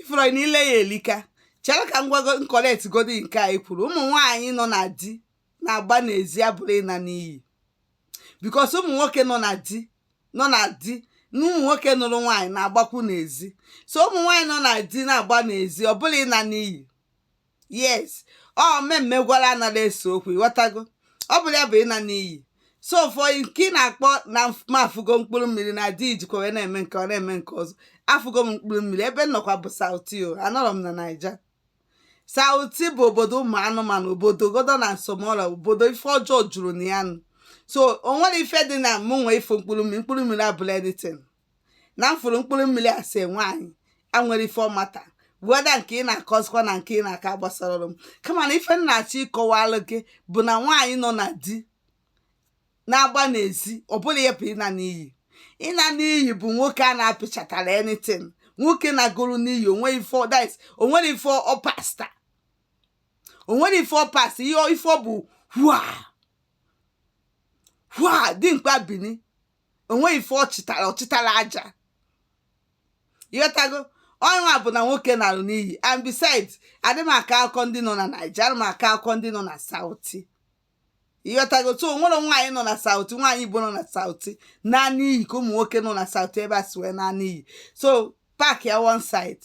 ị fụlụ ife niile a elika chere ka m gwago m correct godi nke i kwuru ụmụ nwaanyị nọ na di na-agba n'ezi abụrọ ịna n'iyi because ụmụ nwoke nọ na di nọ na di na ụmụ nwoke nụrụ nwaanyị na-agbakwu n'ezi so ụmụ nwaanyị nọ na di na-agba n'ezi ọ bụrọ ịna n'iyi yes ọ mmemme gwara anaghị ese okwu ịghọtago ọ bụrọ ya bụ ịna n'iyi so for nke ị na-akọ na m afụgo mkpụrụ mmiri na di jikwa wee na-eme nke ọ na-eme nke ọzọ afụgo m mkpụrụ mmiri ebe m nọkwa bụ south o anọrọ m na naija south bụ obodo ụmụ anụmanụ obodo godo na nsọmọla obodo ife ọjọọ juru na ya nụ so o nwerọ ife dị na mụ nwee ife mkpụrụ mmiri mkpụrụ mmiri abụrọ anything na m fụrụ mkpụrụ mmiri ase nwaanyị enwerọ ife ọ matter whether nke ị na-akọzikwa na nke ị na-akọ agbasarọ m kama na ife m na-achọ ịkọwalụ gị bụ na nwaanyị nọ na di na-agba n'ezi ọ bụrọ ya bụ ịna n'iyi ịna n'iyi bụ nwoke a na-apịchatara anything nwoke nagoro n'iyi onwe ife ọ- that is, onwerọ ife ọ pasta onwerọ ife ọ pasta ihe ọ- ife ọ bụ hua hua dimkpa bini onweghị ife ọ chịtara ọ chịtara aja ịghọtago ọ ya bụ na nwoke nalụ n'iyi and besides adị m akọ akụkọ ndị nọ na naija ana m akọ akụkọ ndị nọ na south ịghọtago so onwerọ nwaanyị nọ na south nwaanyị igbo nọ na south naa n'iyi ka ụmụ nwoke nọ na south ebe a si wee naa n'iyi so park ya one side